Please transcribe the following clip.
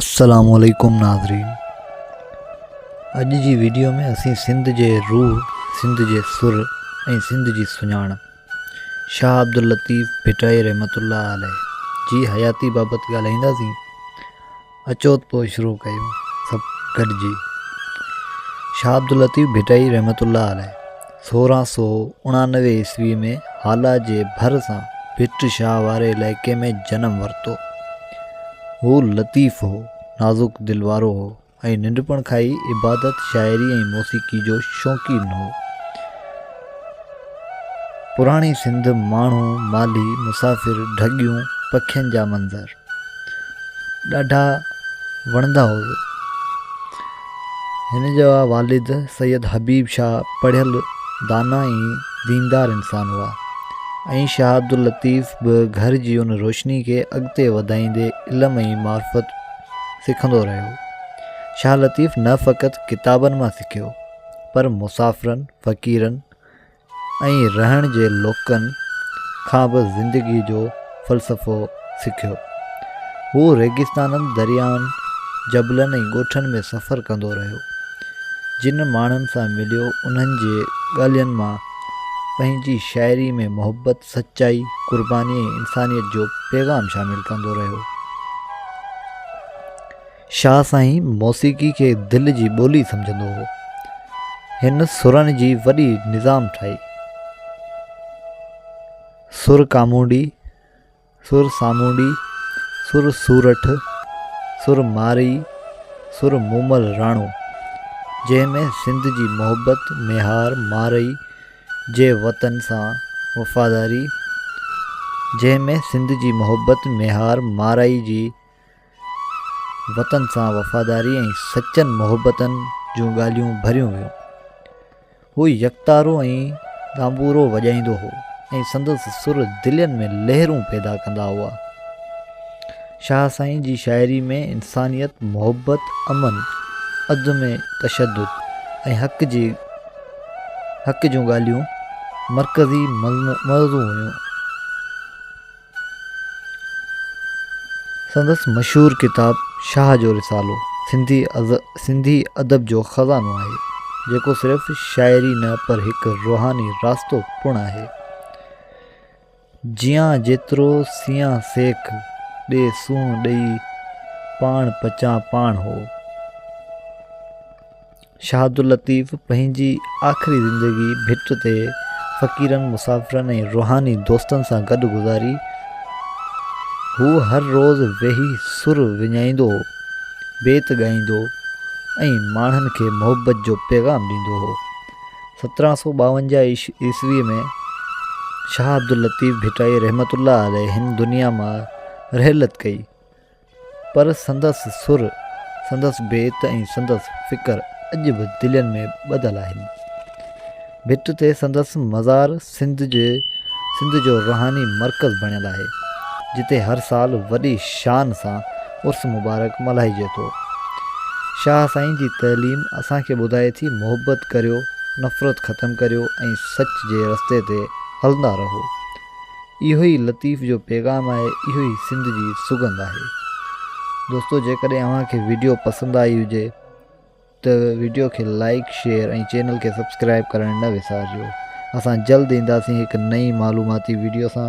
السلام عليڪم ناظرين اڄ جي ويڊيو ۾ اسين سنڌ جي روح سنڌ جي سر ۽ سنڌ جي سڃاڻپ شاهه عبداللطيف ڀٽائي رحمت الله عليه جي حياتي بابت ڳالهائينداسين اچو پوء شروع ڪيون سڀ گڏجي شاهه عبداللطيف ڀٽائي رحمت الله عليه سورهن سؤ اڻانوي عيسوي ۾ هالا جي ڀر سان ڀٽ شاهه واري علائقي ۾ جنم ورتو. هو لطيف هو، نازڪ دل وارو هو ۽ ننڍپڻ کان ئي عبادت، شاعري ۽ موسيقي جو شوقين هو. پراڻي سنڌ، ماڻهو، مالهي، مسافر، ڍڳيون، پکين جا منظر. ڏاڍا وڻندا هئس. هن جا والد سيد حبيب شاهه پڙهيل دانا ۽ ديندار انسان هئا ۽ شاهه عبداللطيف به گهر جي ان روشني کي اڳتي وڌائيندي علم ۽ معرفت سکندو رهيو. شاهه لطيف نه فقط ڪتابن مان سکيو پر مسافرن، فقيرن، ۽ رهڻ جي لوڪن کان به زندگي جو فلسفو سکيو. هو ريگستانن، دريائن، جبلن ۽ ڳوٺن ۾ سفر ڪندو رهيو. جن ماڻهن سان مليو، انهن جي ڳالهين مان پنهنجي شاعري ۾ محبت، سچائي، قرباني ۽ انسانيت جو پيغام شامل ڪندو رهيو. شاهه سائين موسيقي کي دل جي ٻولي سمجهندو هو. هن سرن جي وڏي نظام ٺاهي. سر ڪامونڊي، سر سامونڊي، سر سورٺ، سر مارئي، سر مومل راڻو، جنهن ۾ سنڌ جي محبت ميهار مارئي جي وطن سان وفاداري جنهن ۾ سنڌ جي محبت ميهار مارئي جي وطن سان وفاداري ۽ سچن محبتن جون ڳالهيون ڀريون ويون هو يڪتارو ۽ تانبورو وڄائيندو هو ۽ سندس سر دلين ۾ لهرون پيدا ڪندا هئا شاهه سائين جي شاعري ۾ انسانيت محبت امن عدم تشدد ۽ حق جي حق جون ڳالهيون مرڪزي موضوع هيون سندس مشهور ڪتاب شاهه جو رسالو سنڌي ادب جو خزانو آهي، جيڪو صرف شاعري نه پر هڪ روحاني راستو پڻ آهي. جيان جيترو سيان سيک، ڏي سونهن ڏئي، پاڻ پچان پاڻ هو. شاهداللطيف پنهنجي آخري زندگي ڀٽ تي فقيرن، مسافرن ۽ روحاني دوستن سان گڏ گذاري. هو هر روز ويهي سر وڃائيندو هو، بيت ڳائيندو ۽ ماڻهن کي محبت جو پيغام ڏيندو هو. سترهن سؤ ٻاونجاهه عيسوي ۾ شاهه عبداللطيف ڀٽائي رحمة الله عليه هن دنيا مان رحلت ڪئي. پر سندس سر، سندس بيت ۽ سندس فڪر اڄ به دلين ۾ ٻڌل آهن. ڀٽ تي سندس مزار سنڌ جي سنڌ جو روحاني مرڪز بڻيل آهي، جتي هر سال وڏي شان سان عرس مبارڪ ملهائجي ٿو. شاهه سائين جي تعليم اسان کي ٻڌائي ٿي محبت ڪريو، نفرت ختم ڪريو ۽ سچ جي رستي تي هلندا رهو. اهو ئي لطيف جو پيغام آهي اهو ئي سنڌ جي سگنڌ آهي دوستو جيڪڏهن اوهان کي ويڊيو پسند آئي هجي ته ويڊيو کي لائڪ شيئر ۽ چينل کي سبسڪرائب ڪرڻ نه وسارجو اسان جلد اينداسين هڪ نئين معلوماتي ويڊيو سان